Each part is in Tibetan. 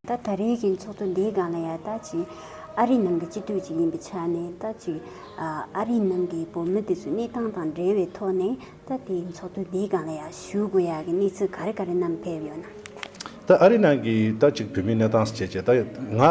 ད་ད་རེས་ཀྱི་ཚོགས་གཙོ་འདིའི་སྒང་ལ་ཡང་ད་ཅིག་ཨ་རིའི་ནང་གི་སྤྱི་འཐུས་ཅིག་ཡིན་པའི་ཆ་ནས་ད་ཅིག་ཨ་རིའི་ནང་གི་བོད་མི་དེ་ཚོའི་གནས་སྟངས་དང་འབྲེལ་བའི་ཐོག་ནས་ད་དེའི་ཚོགས་གཙོ་འདིའི་སྒང་ལ་ཡང་ཞུ་དགོས་ཡག་གི་གནས་ཚུལ་ག་རེ་ག་རེ་རྣམས་ཕེབས་ཡོད་ན། ད་ཨ་རི་ནང་གི་ད་ཅིག་བོད་མི་གནས་སྟངས་བྱས་བྱས་ད་ང་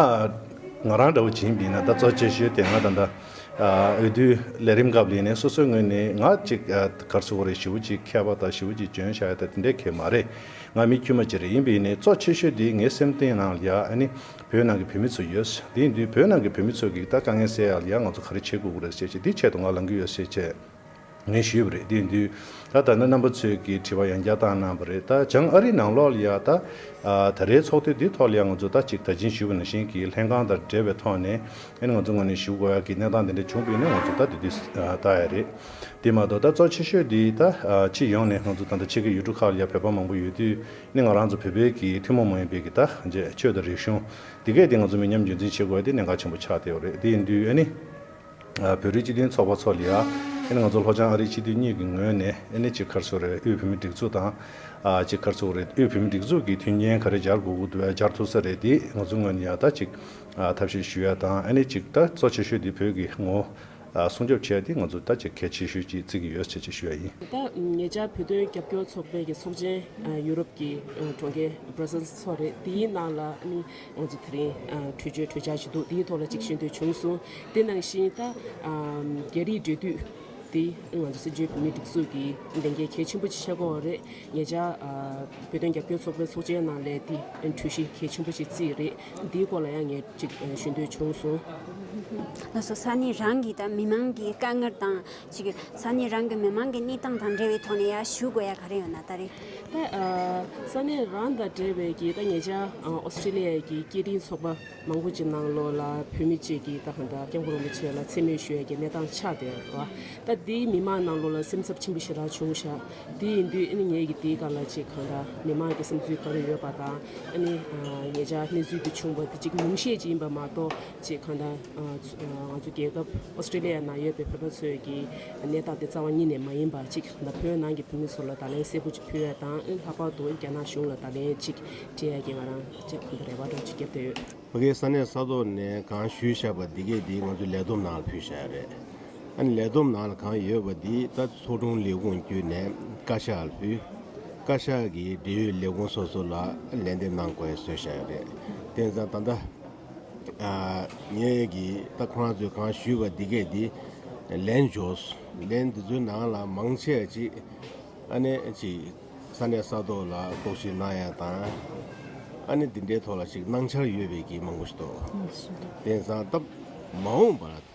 ང་རང་འདྲ་བོ་བྱིངས་བིས་ན་ད་གཙོ་བྱས་ཞོད་དེ་ང་ད་འདྲ་འོས་བསྡུ་ལས་རིམ་སྐབས་ལས་ནས་སོ་སོའི་ངོས་ནས་ང་ཅིག་གར་སོ་བོ་རེད་ཞི་བོ་ཅིག་མཁས་པ་དང་ཞི་བོ་ཅིག་འཇོན་བྱ་ཡ་ད་དེ་འདྲས་ཁས་མ་རེད་ང་མི་དཀྱུས་མ་ཅིག་རེད་ཡིན་བིས་ནས་གཙོ་བྱས་ཞོད་དེ་ངའི་སེམས་གཏིང་ནང་ལ་ཡ་ཨ་ནི་བོད་ནང་གི་བོད་མི་ཚོ་ཡོད་དེ་ཡིན་དུས་བོད་ནང་གི་བོད་མི་ཚོ་གིས་ད་དཀའ་ངལ་སེལ་ཡ་ལ་ཡ་ང་ཚོ་ག་རེ་བྱེད་དགོས་ཀུ་རེད་བྱས་བྱས་འདི་བྱས་ཏོ་ང་ལང་གི་ཡོད་བྱས་བྱས། ངས་ཞུས་པ་རེད། དེ་དུས་ད་ལྟ་ན་རྣམ་པ་ཚོས་ཀྱི་དྲི་བ་ཡང་བརྒྱ་ལྟར་གནང་བ་རེད། ད་བྱང་ཨ་རིའི་ནང་ལོག་ལ་ཡ་ད། ད་རེའི་ཚོགས་ཐུན་འདིའི་ཐོག་ལ་ཡང་ང་ཚོ་ད་ཅིག་ད་ཅིང་ཞུ་བ་ནང་བཞིན་གྱི་ལྷན་ཁང་དང་འབྲེལ་བའི་ཐོག་ནས་ཨེ་ན་ང་ཚོ་ངོ་ནས་ཞུ་དགོས་ཡག་གི་གནས་སྟངས་དེ་འདྲ་བྱུང་བས་ན་ང་ཚོ་ད་དེ་དུས་ད་ཡ་རེད། དེ་མ་གཏོགས་ད་གཙོ་ཆེ་ཤོས་དེ་ད་སྤྱི་ཡོངས་ནས་ང་ཚོ་ད་ད་ཆེ་གེ་ཡུལ་གྲུ་ཁག་ལ་ཡ་བོད་པ་མང་པོ་ཡོད་དུས་ནི་ང་རང་ཚོ་བོད་པའི་གི་ཐུན་མོང་མ་ཡིན་པའི་གི་ད་རྗེས་ཆོས་དང་རིག་གཞུང་དེ་གས་དེ་ང་ཚོ་མི་ཉམས་རྒྱུན་འཛིན་བྱེད་དགོས་ཡ་དེ་གནད་འགག་ཆེན་པོ་ཆགས་བསྡད་ཡོད་རེད་དེ་དུས་ཨེ་ནི། བོད་རིགས་སྤྱི་མཐུན་ཚོགས་པ་མཚོ་ལི་ཨ་ནི་ང་ཚོ་ལྷོ་བྱང་ཨ་རིའི་སྤྱི་འཐུས་གཉིས་ཀྱི་ངོས་ནས་ཨེ་ནི་གཅིག་མཁར་ཚོ་རེད་དབུས་བོད་མི་སྒྲིག་འཛུགས་དང་གཅིག་མཁར་ཚོ་རེད་དབུས་བོད་མི་སྒྲིག་འཛུགས་ཀྱིས་མཐུན་རྐྱེན་ག་རེ་སྦྱར་དགོས་སྦྱར་ཐུབ་ས་རེད་དེ་ང་ཚོའི་ངོས་ནས་ཡང་དག་ཅིག་ཐབས་ཤེས་ཞུ་ཡ་དང་ཨེ་ནི་གཅིག་དག་གཙོ་ཆེ་ཤོས་དེ་བོད་ཀྱི་ངོ་སྲུང་སྐྱོབ་བྱེད་ཡ་དེ་ང་ཚོ་དག་ཅིག་གལ་ཆེ་ཤོས་ཅིག་བརྩི་གི་ཡོད་ཟེར་ཅིག་ཞུ་ཡ་ཡིན། ད་ངེད་ཅག་བོད་དོན་རྒྱབ་སྐྱོར་ཚོགས་པའི་ཚོགས་ཆེན་ཡུ་རོབ་ཀྱི་གྲོང་ཁྱེར Brussels ཚོ་རེད་དེའི་ནང་ལ་ཨེ་ནི། ཨོ་རྩི་དེ་རིང་གྲོས་ཆོད་གྲོས་འཆར་ཞིག་འདུག་དེའི་ཐོག་ལ་ཅིག་ཤོད་འདོད་བྱུང་སོང། དེ་ནང་བཞིན་ད། རྒྱ་རིགས་འབྲེལ་མཐུད་དེ་ང་ཚོ་སྲིད་འབྱོར་བོད་མིའི་སྒྲིག་འཛུགས་ཀྱི་ལས་འགན་གལ་ཆེན་པོ་ཆེ་ཆགས་འགོ་རེད། ངེད་ཅག་བོད་དོན་རྒྱབ་སྐྱོར་ཚོགས་པའི་ཚོགས་ཆེན་ནང་ལས་དེ་གྲོས་གཞི་གལ་ཆེན་པོ་ཞིག་བརྩིས་རེད། དེའི་སྐོར་ལ་ཡང་ངས་ཅིག་ཞུ་འདོད་བྱུང་སོང། ལྷ་ས་ས་གནས་རང་གིས་དང་མི་མང་གིས་དཀའ་ངལ་དང། གཅིག་གི་ས་གནས་རང་གི་མི་མང་གི་གནས་སྟངས་དང་འབྲེལ་བའི་ཐོག་ནས་ཡར་ཞུ་དགོས་ཡ་ག་རེ་ཡོད་ན་ད་རེ། ད་ས་གནས་རང་དང་འབྲེལ་བའི་གི་ད་ངེད་ཅག Australia གི་སྐད་འཕྲིན་ཚོགས་པ་མང་པོ་ཅིག་ནང་ལོགས་ལ་བོད་མི་བཅས་ཀྱི་ད་ཧནྡ་སྐྱབས་མགོན་རིན་པོ་ཆེ་ལ་འཚེ་མེད་ཞུ་ཡ་གི་གནས་སྟངས་ཆགས་དེ་ར་བ། ད་དེ་མི་མང་ནང་ལོགས་ལ་སེམས་འཚབ་ཆེན་པོ་ཞིག་རག་བྱུང་ཤག་དེ་ཡིན་དུས་ཨནི་ངེད་ཀྱི་དེའི་ག་ལ་ཅིག་གང་འདྲ་མི་མང་གི་སེམས་ཚུལ་ག་རེ་ཡོད་པ་དང་ཨནི་ངེད་ཅག་གནས་ཚུལ་དེ་བྱུང་བ་དེ་ཅིག་ཉུང་ཤས་ཅིག་ཡིན་པ་མ་གཏོགས། ཅེས་གང་ལྟར། ང་ཚོ་རྒྱལ་ཁབ Australia ནང་ཡོད་པའི་བོད་པ་ཚོས་ཀྱི་ནད་རྟགས་དེ་རྩ་བ་ཉིད་ནས་མ་ཡིན་པ་གཅིག་དང་བོད་ནང་གི་བོད་མི་ཚོ་ལ་ད་ལན་གསལ་པོ་གཅིག་ཕུལ་བ་དང་ལྷག་པར་དུ་རྒྱ་ནག་གཞུང་ལ་ད་ལན་གཅིག་སྤྲད་ཡ་གྱི་ང་རང་ཅག་གང་དུ་རེ་བ་ཏྲོག་ཅིག་བརྒྱབ་བསྡད་ཡོད། ཕ་གིའི་ས་གནས་ས་ཐོག་ནས་གང་ཞུས་བཞག་པ་འདི་གས་འདི་ང་ཚོའི་ལས་བསྡོམས་ནང་ལ་ཕུལ་བཞག་རེད། ཨ་ནི་ལས་བསྡོམས་ནང་ལ་གང་ཡོད་པ་འདི་ད་ཚོགས་དྲུང་ལས་ཁུངས་བརྒྱུད་ནས་བཀའ་ཤག་ལ་ཕུལ། བཀའ་ཤག་གིས་འབྲེལ་ཡོད་ལས་ཁུངས་སོ་སོ་ལ་ལན་འདེབས་གནང་དགོས་ཟོས་བཞག་རེད། དེ་ནི་ད་ལྟ། ངེད་ཀྱིས་ད་ཁོ་རང་ཚོས་གང་ཞུས་པ་འདི་སྐད་དེ་ལེན་འཇོག་ལན་འདི་ཚོའི་ནང་ལ་མང་ཆེ་བ་ཅིག་ཨ་ནེ་ཅིག་ས་གནས་ས་ཐོག་ལ་ལྐོག་ཞུས་གནང་ཡ་དང་ཨ་ནེ་འདི་འདྲའི་ཐོག་ལ་ཞིག་གནང་འཆར་ཡོད་པའི་གིས་མང་པོ་ཞིག་འདུག་དེང་སང་སྟབས་མ་འོངས་པར།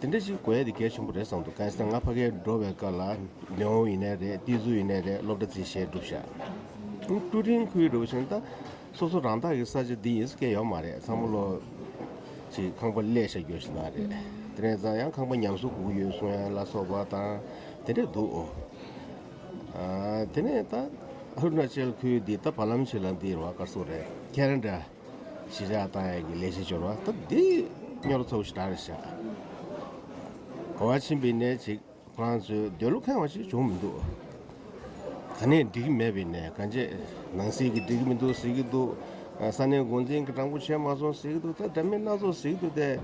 དེ་འདྲ་ཞིག་གོ་ཡ་དེ་གལ་ཆེན་པོ་རེད་བསམ་འདུག་གལ་སྲིད་ང་ཕ་གའི་འགྲོ་བའི་སྐབས་ལ་ལེའོ་ཡིན་ནའི་རེད་ཏི་ཛུ་ཡིན་ནའི་རེད་སློབ་གྲ་ཚིག་བཤད་སྒྲུབ་བཞག་ཀྲུ་ཀྲིང་ཁུའི་འགྲོ་བ་བཞིན་ད་སོ་སོ་རང་བདག་གི་ས་ཆ་འདི་ཡིན་ས་སྐད་ཡོད་མ་རེད་ཚང་མ་བློ་ཅིག་ཁང་པ་གླས་ཤ་རྒྱོ་ཞིག་གནང་རེད་དེ་ནས་ཙང་ཡང་ཁང་པ་ཉམས་སུ་གུག་ཡོད་སུང་ཡན་ལ་སོགས་པ་དང་དེ་འདྲས་འདུག་ཨོ་དེ་ནས་ད་ཨ་རུ་ནཱ་ཅལ་ཁུའི་འདི་ད་བར་ལམ་ཆེ་ལ་འདི་ར་བ་དཀར་སོགས་རེད་ཁྱེད་རང་འདྲ། ཤེས་བྱ་ལྟ་ཡག་གི་ལས་བྱེད་སྦྱོར་བ་སྟབས་བདེ་སྙོར་ཚོགས་ཤིག་གྲགས་རེ་བྱ། གོ་བ་ཕྱིན་པའི་ནད་ཅིག་ཁོ་རང་ཚོའི་འདོད་བློ་ཁེངས་བ་ཞིག་བྱུང་མི་འདུག། ག་ནས་འགྲིག་གི་མེད་པའི་ནད་ག་འབྱེད་ནང་ཟེར་གི་འགྲིག་གི་མི་འདུག་ཟེར་གི་འདུག་ས་གནས་འགོ་འཛིན་གྱི་སྤྲང་པོ་ཆེ་མ་སོང་ཟེར་གི་འདུག་ད་འདྲ་མིན་སྣ་ཚོགས་ཟེར་གི་འདུག་སྟེ།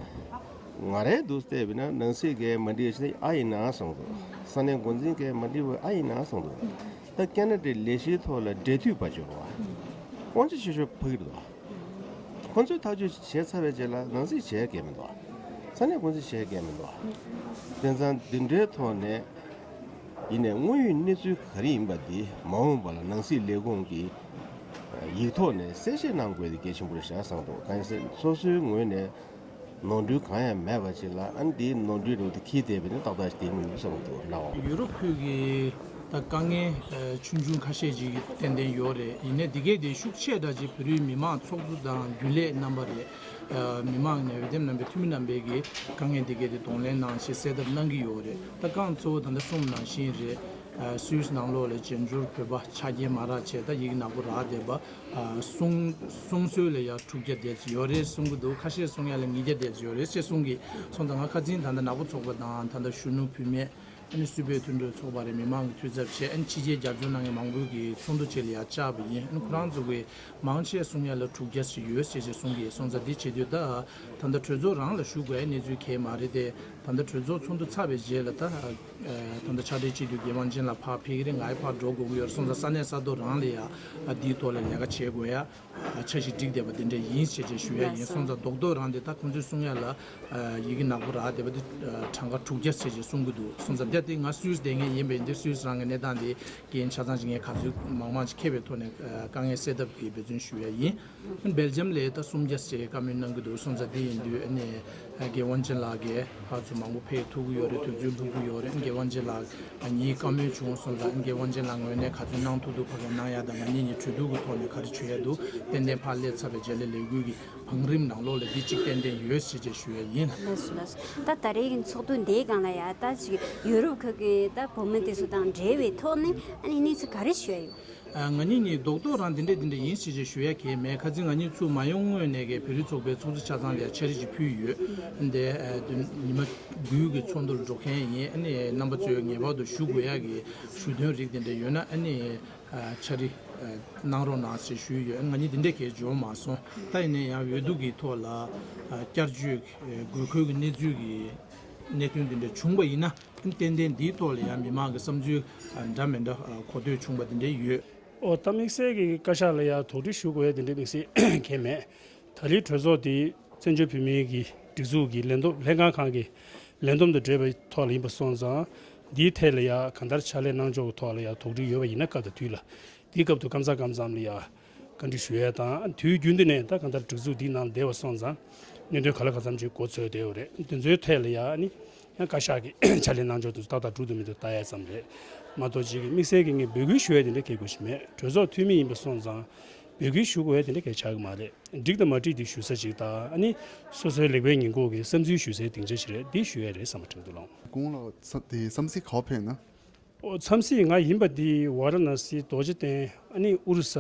ང་རེད་འདུག་བལྟས་པས་ན་ནང་སྲིད་མཁན་མ་འགྲིག་ཨ་ཡིན་ན་ཨ་སོང་འདུག་ས་གནས་འགོ་འཛིན་མཁན་མ་འགྲིག་བས་ཨ་ཡིན་ན་ཨ་སོང་འདུག། ད་སྐད་ན་དེ་ལས་གཞིའི་ཐོག་ལ་འབྲེལ་མཐུད་བར་འབྱོར་བ། དབང་ཆ་ཆེ་ཤོས་ཕ་གིར་འདུག་བ། ཁོ་ཚོས་ཐག་གཅོད་བྱས་ཚར་བའི་རྗེས་ལ་ནང་སྲིད་བྱས་སྐད་མི་འདུག་བ། ས་གནས་ཀུང་སི་བྱས་སྐད་མི་འདུག་བ། དེ་མཚང་འདི་འདྲའི་ཐོག་ནས་ཡིན་ནས་དངོས་ཡོད་གནས་ཚུལ་ག་རེ་ཡིན་པ་དེ་མ་འོངས་པ་ལ་ནང་སྲིད་ལས་ཁུངས་ཀྱི་ཡིག་ཐོག་ནས་གསལ་བཤད་གནང་དགོས་དེ་གལ་ཆེན་པོ་རེད་བཞག་བསམ་འདུག་གང་ཡིན་ཟེར་སོ་སོའི་ངོས་ནས། ནོར་འཁྲུལ་གང་ཡང་མེད་པ་ཞིག་ལ་ཨང་འདིའི་ནོར་འཁྲུལ་རེད་འདུག་ཁྱིའི་དེད་པའི་ནི་ཏག་ཏག་ཞིག་དེ་ཡིན་ནུབ་བསམ་གྱི་འདུག་ན་འོ། ཡུ་རོབ་ཁུལ་གྱི་ད་དཀའ་ངལ་ཆུང་ཆུང་ཁ་ཤས་ཅིག་ཏན་ཏན་ཡོད་རེད་ཡིན་ནས་འདི་གའི་དེ་ཤུགས་ཆེ་དྲག་ཅིག་བོད་རིགས་མི་དམངས་ཚོགས་གཙོ་དང་རྒྱུན་ལས་རྣམ་པ་རེད་མི་དམངས་ནས་འོས་འདེམས་རྣམ་པའི་འཐུས་མི་རྣམ་པས་གི་དཀའ་ངལ་འདི་གའི་དེ་གདོང་ལེན་གནང་ཞེས་གསལ་བཏབ་གནང་གི་ཡོད་རེད་ད་རྐང་གཙོ་བོ་ད་ལྟ་གསུམ་ནང་བཞིན་རེད་སུའུ་སི་ནང་ལོགས་ལས་བྱེད་འབྱོར་བོད་པ་ཆ་རྐྱེན་མ་རག་བྱས་ད་ཡིག་ནག་པོ་རག་བསྡད་པ་གསུངགསུང་གསོལ་ལ་ཡང་དྲུག་བརྒྱ་བཟླས་ཡོད་རེད་གསུང་གི་འདུག་ཁ་ཤས་གསུང་ཡ་ལ་ཉིས་བརྒྱ་བཟླས་ཡོད་རེད་ཅེས་གསུང་གི་སོང་ད་ང་ཁ་འཛིན་ད་ལྟ་ནག་པོ་ཚོགས་པ་དང་ད་ལྟ་གཞོན་ནུ་བུད་མེད་ཨ་ནི་སུད་པའི་མཐུན་གྲོས་ཚོགས་པ་རེད་མི་མང་གི་འཐུས་ཚབ་བྱས་ཨ་ནི་ཕྱི་རྒྱལ་རྒྱ་མཚོ་ནང་གི་མང་པོའི་གི་ཚོགས་འདུ་བཅས་ལ་ཡང་བཅར་བ་ཡིན་ཨ་ནི་ཁོ་རང་ཚོ་གི་མང་ཆེ་གསུང་ཡ་ལ་དྲུག་བརྒྱ་ཞིག་ཡོད་རེད་ཅེས་གསུང་གི་སོང་ད་འདི་བྱེད་དུས་ད་ད་ལྟ་གྲོས་ཚོགས་རང་ལ་ཞུགས་དགོས་ཨ་ནི་གནས་ཚུལ་གས་མ་རེད་དེ་ད་ལྟ་གྲོས་ཚོགས་ཚོགས་འདུ་ཚར་བའི་རྗེས་ལ་ད་ད་ལྟ་ཆ་འཕྲིན་གཅིག་ཏུ་རྒྱལ་དབང་ཅན་ལ་ཕར་ཕེབས་ཀྱི་རེད་ང་ཡི་ཕར་འགྲོ་དགོས་ཀྱི་ཡོད་རེད་སོང་ཙང་ས་གནས་ས་མཐོ་རང་ལས་ཡག་འདིའི་ཐོག་ལ་ལས་ཀ་བྱེད་དགོས་ཡ་ཆ་ཞིག་བསྒྲིགས་བསྡད་པ་འདི་འདྲས་ཡིན་ཞེས་བཅས་ཞུ་ཡ་ཡིན་སོང་ཙང་རྡོག་རྡོག་རང་འདི་ད་ཁོང་ཚོའི་གསུང་ཡ་ལ་ཡི་གེ་ནག་པོ་རག་བསྡད་པ་འདི་གྲངས་ཀ་དྲུག་བརྒྱ་ཟེར་ཞེས་གསུང་གི་འདུག་སོང་ཙང་དེ་ལྟ་སྟེ་ང་སུའུ་སྡེ་ངས་ཡིན་པས་འདིར་སུའུ་རང་གི་གནས་སྟངས་དེ་རྐྱེན་ཆ་ཚང་ཅིག་ངས་ག་ཚོད་མང་མང་ཅིག་མཁས་པའི་ཐོག་ནས་དཀའ་ངལ་སེལ་ཐབས་ཀྱི་འབད་བརྩོན་ཞུ་ཡ་ཡིན། སྦེལ་ཇམ་ལས་ད་སུམ་བརྒྱ་ཟེར་ཀ་མེད་གནང་གི་འདུག་སོང་ཙ་དེ་ཡིན་དུས་ཨ་ནེ་རྒན་དབང་ཆེན་ལགས་ཀྱིས་ཧ་ཚོད་མང་པོ་ཕེལ་ཐུག་གི་ཡོད་རེད་དུས་ཚོད་ལྷུག་གི་ཡོད་རེད་རྒན་དབང་ཆེན་ལགས་ངའི་བཀའ་མོལ་བྱུང་སོང་ཙ་རྒན་དབང་ཆེན་ལགས་ངོས་ནས་ག་ཚོད་གནང་ཐུག་འདུག་ཕ་ག་གནང་ཡག་དང་མ་ཉེས་ཉེས་གྲོས་སྡུར་གི་ཐོག་ནས་ག་རེ་བྱོས་ཡག་འདུག་ཏན་ཏན་ཕར་སླེབས་ཚར་བའི་རྗེས་ལས་ལས་འགུལ་གི་བང་རིམ་ནང་ལོགས་ལས་འདི་གཅིག་ཏན་ཏན་ཡོད་ཟེར་རྗེས་ཞུ་ཡ་ཡིན། ལགས་སོ་ལགས་སོ་ད་ད་རེས་ཀྱི་ཚོགས་འདུ་འདི་གང་ལ་ཡག་ད་ཅིག་ཡུ་རོབ་ཁག་གི་ད་བོད་མི་དེ་ཚོ་དང་འབྲེལ་བའི་ཐོག་ནས་ཨ་ནེ་གནས་ཚུལ་ག་རེ་ཞུ་ཡ་ཡོད། ང་གཉིས་ནི་རྡོག་རྡོག་རང་དེ་འདྲས་དེ་འདྲས་ཡིན་ཞེས་ཅེས་ཞུ་ཡ་གས་མེད་ཁ་ཚིག་ང་གཉིས་ཚུར་མ་ཡོང་སྔོན་ནས་ཀའི་བེ་རི་ཚོགས་པའི་ཚོགས་གཙོ་ཆ་ཚང་ལ་འཆར་རིས་ཅིག་ཕུལ་ཡོད། ཉི་མ་རྡུལ་གྱི་ཚོགས་འདུར་འགྲོ་མཁན་རྣམ་པ་ཚོས་ངེས་པར་དུ་ཞུ་དགོས་ཡ་གི་ཞུ་དོན་རིགས་དེ་འདྲས་ཡོད་ན་འཆར་རིས་གནང་རོགས་གནང་ཞེས་ཞུས་ཡོད་ང་གཉིས་དེ་འདྲས་གས་འབྱོར་མ་སོང་ད་ཡིན་ན་ཡང་འོས་བསྡུ་གི་ཐོག་ལ་བསྐྱར་བཅོས་དགོས་མཁོ་གི་གནས་ཚུལ་གྱི་གནད་དོན་དེ་འདྲས་བྱུང་པ་ཡིན་ན། ཏན་ཏན་འདིའི་ཐོག་ལ་ཡང་མི་མང་གི་བསམ་ཚུལ་འདྲ་མི་འདྲ་གོ་ཐོས་བྱུང་བ་དེ་འདྲའི་ཡོད། ཨོ་ད་དམིགས་བསལ་གྱི་བཀའ་ཤག་ལ་ཡང་དོགས་འདྲི་ཞུ་དགོས་ཡ་དེ་འདྲའི་དམིགས་བསལ་གལ་མེད། ད་རེའི་གྲོས་ཚོགས་དེ་བཙན་བྱོལ་བོད་མིའི་གི་སྒྲིག་འཛུགས་ཀྱི་ལས་འདོམས་ལྷན་ཁང་ཁང་གི་ལས་འདོམས་དང་འབྲེལ་བའི་ཐོག་ལ་ཡིན་པ་སོང་ཙང་འདིའི་ཐད་ལ་ཡང་གང་ལྟར་ཕྱག་ལས་གནང་ཕྱོགས་ཀྱི་ཐོག་ལ་ཡང་དོགས་འདྲི་ཡོད་པ་ཡིན་ན་སྐབས་དང་དུས་ལ་དེའི་སྐབས་དུ་སྐམ་ཚ་སྐམ་ཙམ་ལ་ཡང་བཀའ་འདྲི་ཞུ་ཡས་དང་དུས་རྒྱུན་འདི་ནས་ད་གང་ལྟར་སྒྲིག་འཛུགས་འདིའི་ནང་སྡེ་བ་སོང་ཙང་སྙན་སྒྲོན་ག་ལ་ག་ཚམ་ཅིག་འགོ་ཚོས་བསྡད་ཡོད་རེད་དེ་ཚོའི་ཐད་ལ་ཡང་ནི་ཡང་བཀའ་ཤག་གི་ཕྱག་ལས་གནང་ཕྱོགས་དུས་སུ་ཏག་ཏག་འགྲུག་ཏུ་མི་འདུག་བལྟ་ཡས་ཙམ་རེད་མ་གཏོགས་ཅིག་དམིགས་བསལ་གྱི་ངས་འབོད་སྐུལ་ཞུ་ཡས་དེ་འདྲ་གལ་དགོས་ཞིག་མེད་གྲོས་ཚོགས་འཐུས་མི་ཡིན་པ་སོང་ཙང་འབོད་སྐུལ་ཞུ་དགོས་ཡས་དེ་འདྲ་གལ་ཆགས་ཀྱི་མ་རེད་འགྲིག་དང་མ་འགྲིག་དེ་ཞུ་ས་ཅིག་དང་ནི་སོ་སོའི་ལེགས་པའི་ཉེས་འགོག་གི་བསམ་ཚུལ་ཞུ་སའི་སྡིངས་ཆ་ཞིག་རེད་འདི་ཞུ་ཡས་རེད་བསམ་པ་དྲན་འདུག་ལགས། དགུང་ལོ་དེ་བསམ་གཟིགས་ག་བ་ཕེབས་ན། མཚམས་སྲིད་ང་ཡིན་པ་འདི་ཝཱ་ར་ན་སིའི་རྡོ་རྗེ་གདན་ཨ་ནི་ཨུ་རུ་ས་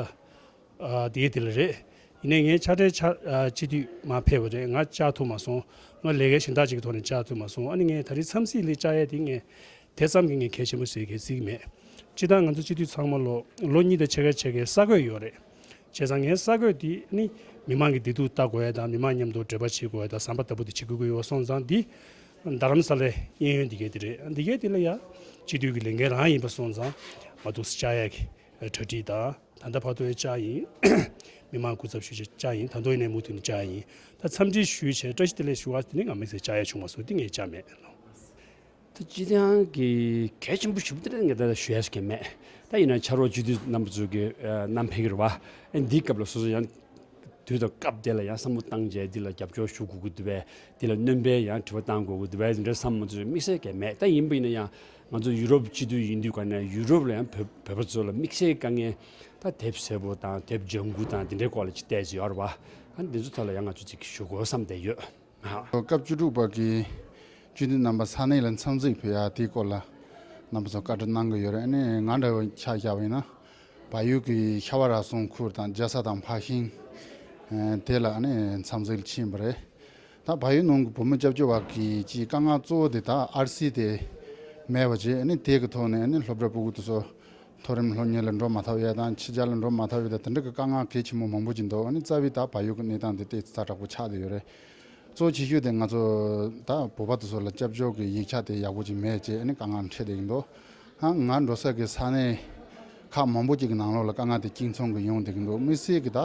དེའི་དེ་ལ་རེད། ཡིན་ནའི་ངས་ཕྱག་སྦྲེལ་ཕྱག་སྤྱི་དུས་མ་ཕེབས་པ་རེད་ང་བཅག་ཐུབ་མ་སོང། ང་ལས་ཀའི་ཞིང་དག་ཅིག་གི་ཐོག་ནས་བཅག་ཐུབ་མ་སོང་ཨ་ནི་ངས་ད་རེས་མཚམས་སྲིད་ལི་བཅག་ཡས་དེ་ངས་དེ་ཙམ་གྱི་ངས་གལ་ཆེན་པོ་བཟོས་གལ་སྲིད་མེད། སྤྱི་ལྟར་ང་ཚོ་སྤྱི་དུས་ཚང་མ་ལོ་ལོ་གཉིས་དང་ཕྱེད་ཀ་ཕྱེད་ཀའི་ས་བགོས་ཡོད་རེད། བྱས་ཙང་ངའི་ས་བགོས་འདི་ཨ་ནི་མི་མང་གི་བདེ་སྡུག་ལྟ་དགོས་ཡས་དང་མི་མང་མཉམ་དུ་འབྲེལ་པ་བྱེད་དགོས་ཡས་དང་བསམ་པ་ལྟ་བུ་དེ་བྱེད་དགོས་ཀྱི་ཡོད་སོང་ཙང་འདི་རྡ་རམ་ས་ལའི་གཡས་གཡོན་འདི་གའི་དེ་རེད་འདི་གའི་དེ་ལ་ཡང་སྤྱི་འཐུས་ཀྱི་ལས་འགན་རང་ཡིན་པ་སོང་ཙང་མ་གཏོགས་སི་ཅཱ་ཡ་གི་གྲ་སྒྲིག་དང་ད་ལྟ་བར་དོ་ཡི་ཅཱ་ཡིན། མི་མང་སྐུ་ཚབ་ཞུ་བྱེད་ཅཱ་ཡིན་ད་མདོ་ཡི་ནས་མུ་མཐུད་ནས་ཅཱ་ཡིན་ད་འཚམས་འདྲི་ཞུས་བྱས་བཀྲ་ཤིས་བདེ་ལེགས་ཞུ་བ་དེ་ནི་ང་མི་ཚེ་ཅཱ་ཡ་བྱུང་བ་སོ་ཏི་ངའི་ཅཱ་མེད་ནོ། ད་སྤྱི་འཐུས་གི་གལ་ཆེན་པོ་ཞུ་བདེ་ལེགས་ངས་ད་ཞུ་ཡས་ཀྱི་མེད་ད་ཡིན་ན་ཕྱར་བ་སྤྱི་འཐུས་རྣམ་པ་ཚོ་གི་རྣམ་ཕེ་གི་རེད་བ་འདིའི་སྐབས་ལ་སོ་སོ་ཡང། དུས་དང་སྐབས་དེ་ལ་ཡང་བསམ་བློ་བཏང་རྗེས་འདི་ལ་རྒྱབ་སྐྱོར་ཞུ་དགོས་ཀྱི་འདུག་བས། འདི་ལ་སྣོན་པའི་ཡང་དྲི་བ་བཏང་དགོས་ཀྱི་འདུག་བས་དེ་འདྲའི་བསམ་བློ་ཚོས་དམིགས་བསལ་གས་མེད་ད་ཡིན་པ་ཡིན་ན་ཡང། ང་ཚོ་ཡུ་རོབ་སྤྱི་འཐུས་ཡིན་དུས་ག་ནས་ཡུ་རོབ་ལ་ཡང་བོད་པ་ཚོ་ལ་དམིགས་བསལ་དཀའ་ངལ། ད་དེབ་སེར་པོ་དང་དེབ་ལྗང་གུ་དང་དེ་འདྲའི་སྐོར་ལ་ཅི་བལྟས་ཅི་ཡོད་རེད་བ། ད་འདི་ཚོ་ཐོག་ལ་ཡང་ང་ཚོ་ཅིག་ཞུ་དགོས་བསམ་བསྡད་ཡོད། སྐབས་བཅུ་དྲུག་པ་གི་སྤྱི་འཐུས་རྣམ་པ་ས་གནས་ལ་འཚམས་གཟིགས་ཕེབས་ཡ་དེའི་སྐོར་ལ་རྣམ་པ་ཚོ་བཀའ་འདྲི་གནང་གི་ཡོད་རེད་ནི་ང་འདྲ་བའི་ཆ་བཞག་པ་ཡིན་ན་བལ་ཡུལ་གི་ཤ་བ་ར་སོང་ཁུལ་དང་རྒྱལ་ས་དང་འཕགས་ཤིང་དེ་ལ་ནི་འཚམས་གཟིགས་ཕྱིན་པ་རེད་ད་བལ་ཡུལ་ནང་གི་བུ་མོ་སྐྱབས་བཅོལ་བ་གི་སྤྱིའི་དཀའ་ངལ་གཙོ་བོ་དེ་དག་ཨར་སི་དེ་མེད་པ་བྱས་ནི་དེ་གི་ཐོག་ནས་ནི་སློབ་གྲྭ་པུ་གུ་དེ་ཚོ་མཐོ་རིམ་ལྷོ་གཉེར་ལ་འགྲོ་མ་ཐག་ཡོད་དང་ཕྱི་རྒྱལ་ལ་འགྲོ་མ་ཐག་ཡོད་དང་དེ་འདྲ་གི་དཀའ་ངལ་གལ་ཆེན་པོ་མང་པོ་ཅིག་འདུག་ཨ་ནི་རྩ་བའི་ད་བར་ཡོད་ཀྱི་གནས་སྟངས་དེ་སྟེ་ཚ་དྲག་པོ་ཆགས་ཏེ་ཡོད་རེད། གཙོ་ཆེ་ཤོས་དེ་ང་ཚོ་ད་བོད་པ་དེ་ཚོ་ལ་སྐྱབས་བཅོལ་གྱི་ཡིག་ཆ་དེ་ཡག་པོ་ཅིག་མེད་ཅེས་ཨ་ནི་དཀའ་ངལ་འཕྲད་བསྡད་ཀྱི་འདུག་ཨ་ང་འགྲོ་ས་ཀྱི་ས་གནས་ཁག་མང་པོ་ཅིག་གི་ནང་ལོགས་ལ་དཀའ་ངལ་དེ་གཅིག་མཚུངས་ཀྱི་ཡོང་བསྡད་ཀྱི་འདུག་མི་སེར་གྱི་ད་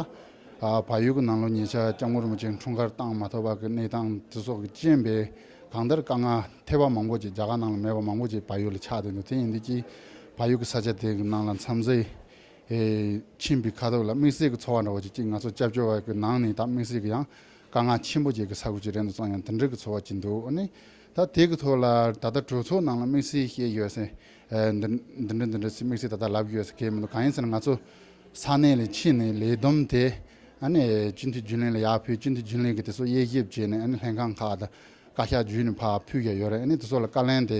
བར་ཡོད་ཀྱི་ནང་ལོགས་ཉེ་ཆར་སྐྱབས་མགོན་རིན་པོ་ཆེ་འཁྲུངས་སྐར་བཏང་མ་ཐོབ་པ་གྱི་གནས་སྟངས་དེ་སོགས་ཀྱི་རྐྱེན་པས་གང་ལྟར་དཀའ་ངལ་ཐེབས་པ་མང་པོ་ཅིག་རྒྱ་གར་ནང་ལ་མེད་པ་མང་པོ་ཅིག་བལ་ཡུལ་ལ་ཆགས་བསྡད་འདུག་དེ་ཡིན་དུས་ཀྱི་ཕ་ཡུལ་གྱི་ས་ཆ་དེ་གི་ནང་ལ་མཚམས་བཟས་ཕྱིན་པའི་ཁ་དོག་ལ་དམིགས་བསལ་གྱི་ཚོར་བ་འདྲ་བ་ཞིག་སྐྱེས་ང་ཚོ་སྐྱབས་བཅོལ་བ་གི་ནང་ནས་ད་དམིགས་བསལ་གྱི་ཡང་དཀའ་ངལ་ཆེན་པོ་བྱེད་གི་ས་ཁུལ་ཅིག་རེད་འདུག་ཚང་ཡང་དེ་འདྲ་གི་ཚོར་བ་སྐྱེས་འདུག་ཨོ་ནི་ད་དེ་གི་ཐོག་ལ་ད་ལྟ་གྲོས་ཚོགས་ནང་ལ་དམིགས་བསལ་ཞེས་ཡོད་སའི་འདི་འདྲ་འདི་འདྲ་ཞེས་དམིགས་བསལ་ད་ལྟ་ལབ་ཡོད་ས་ཁེལ་མི་འདུག་གང་ཡིན་ཟེར་ན་ང་ཚོ་ས་གནས་ལས་ཕྱི་ནས་ལས་བསྡོམས་དེ་ཨ་ནི་སྤྱི་འཐུས་རྒྱུན་ལས་ལ་ཡར་ཕུལ་སྤྱི་འཐུས་རྒྱུན་ལས་ཀྱིས་དེ་ཚོ་དབྱེ་ཞིབ་བྱས་ནས་ཨ་ནི་ལྷན་ཁང་ཁག་དང་བཀའ་ཤག་བརྒྱུད་ནས་ཕར་ཕུལ་ཡ་ཡོད་རེད་ཨ་ནི་དེ་ཚོ་ལ་བཀའ་ལན་དེ